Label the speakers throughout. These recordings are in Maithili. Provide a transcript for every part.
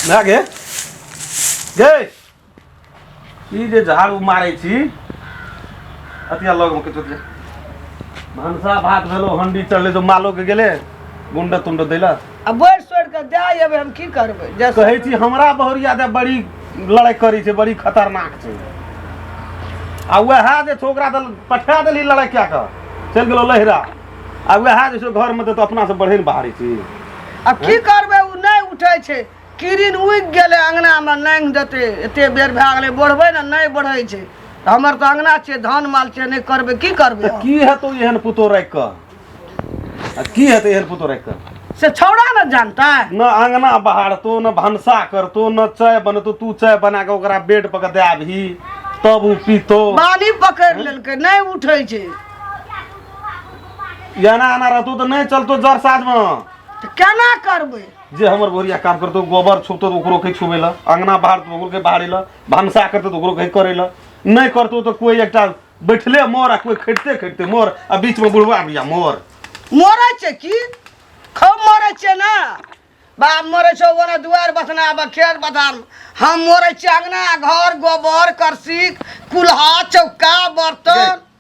Speaker 1: ना गे गे ई जे झाड़ू मारै छी अतिया लग में किछु भनसा भात भेलो हंडी चढ़ले तो मालो के गेले गुंडा तुंडा दैला अब बोर सोर के
Speaker 2: दे अबे हम की करबे जैसे कहै छी हमरा
Speaker 1: बहुरिया दे बड़ी लड़ाई करी छै बड़ी खतरनाक छै आ वएह जे छोकरा दल पठा देली लड़ाई क्या कर चल गेलो लहरा आ वएह जे छै घरमे तऽ अपनासँ बढ़ै ने बाहरी चीज आ की
Speaker 2: करबै ओ नहि उठै छै किरिन उगि गेलै अङ्गनामे नाङ्गि देतै एतेक बेर भए गेलै बढ़बै ने नहि बढ़ै छै तऽ हमर तऽ अङ्गना छै धान माल छै नहि करबै की करबै की हेतौ एहन
Speaker 1: पुतो राखि कऽ आ की हेतै एहन पुतो राखि कऽ से छौड़ा ने
Speaker 2: जानतै न अङ्गना
Speaker 1: बहारतो न भनसा करतो न चाय बनतो तू चाय बना कऽ ओकरा बेड पर दए आबही तब ओ पीतो बाली पकड़ि
Speaker 2: लेलकै नहि उठै छै
Speaker 1: एना एना रहतो तऽ नहि चलतो जर साजमे तऽ केना
Speaker 2: करबै जे हमर बोरिया
Speaker 1: काम करतो गोबर छुपतो तऽ ओकरो कहि छुबै लए अङ्गना बहारतो तऽ ओकरो कहि बहारै लए भनसा करतो तऽ ओकरो कहि करै लए नहि करतो तऽ कोइ एकटा बैठले मोर आ कोइ खटिते खटिते मोर आ बीचमे बुढ़वा भैया मोर मरै छै
Speaker 2: की खूब मरै छै ने बाप मरै छै ओने दुआरि बसना आब खेत बधान हम मरै छी अङ्गना घर गोबर करसी कुल्हा चौका बर्तन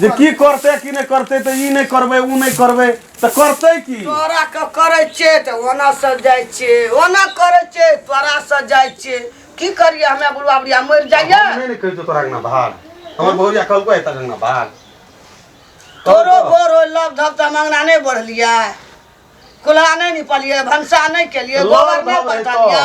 Speaker 1: जे की करते कि नहि करते तऽ ई नहि करबै ओ नहि करबै तऽ करते की तोरा के करे
Speaker 2: छे त ओना से जाय छे ओना करे छे तोरा से जाय छे की करिए हमे बुढ़वा बुढ़िया मर जाइए हम नहि ने कहितो तोरा अंगना
Speaker 1: भाग हमर बहुरिया कहलको है
Speaker 2: तोरा अंगना भाग तोरो बोर हो लग धक त हम अंगना नहीं बढ़लिए कुल्हा नहीं निपलिए भनसा नहीं केलिए गोबर नहीं पटलिए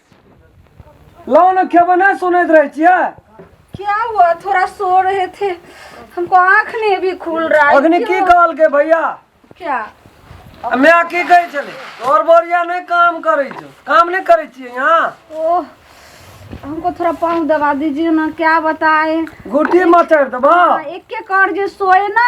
Speaker 3: लाओ ना क्या बना सुनत रहे छिया क्या हुआ
Speaker 4: थोड़ा सो रहे थे हमको आंख नहीं अभी खुल रहा है अग्नि की क्यों? कहल के
Speaker 3: भैया क्या
Speaker 4: हमे
Speaker 3: आ की कहै छले तोर बोरिया नहीं काम करै छौ काम नहीं करै छियै यहाँ ओह
Speaker 4: हमको थोड़ा पाँव दबा दीजिए ना क्या बताए गुटी मचर
Speaker 3: देबा एक एक कर जो
Speaker 4: सोए ना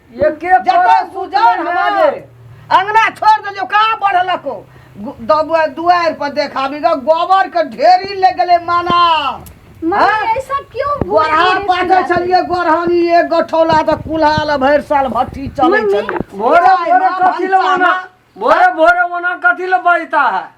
Speaker 2: एके
Speaker 3: जतन परस सुजान
Speaker 2: सुतले हमार रे। अंगना छोड़ देलियो कहाँ बढ़लको गु- दबुआ दुआर पर देखाबी ग गोबर के ढेरी ले गेले माना मम्मी हाँ?
Speaker 4: ऐसा क्यों बोल गोरहा रही है पाटे सुजान? छलिए गोरहानी
Speaker 2: एक गठौला त कुल्हाल भरि साल भट्टी चले मम्मी, छलिए भोरे
Speaker 4: भोरे
Speaker 3: कथी ले ओना भोरे भोरे ओना कथी ले बजता है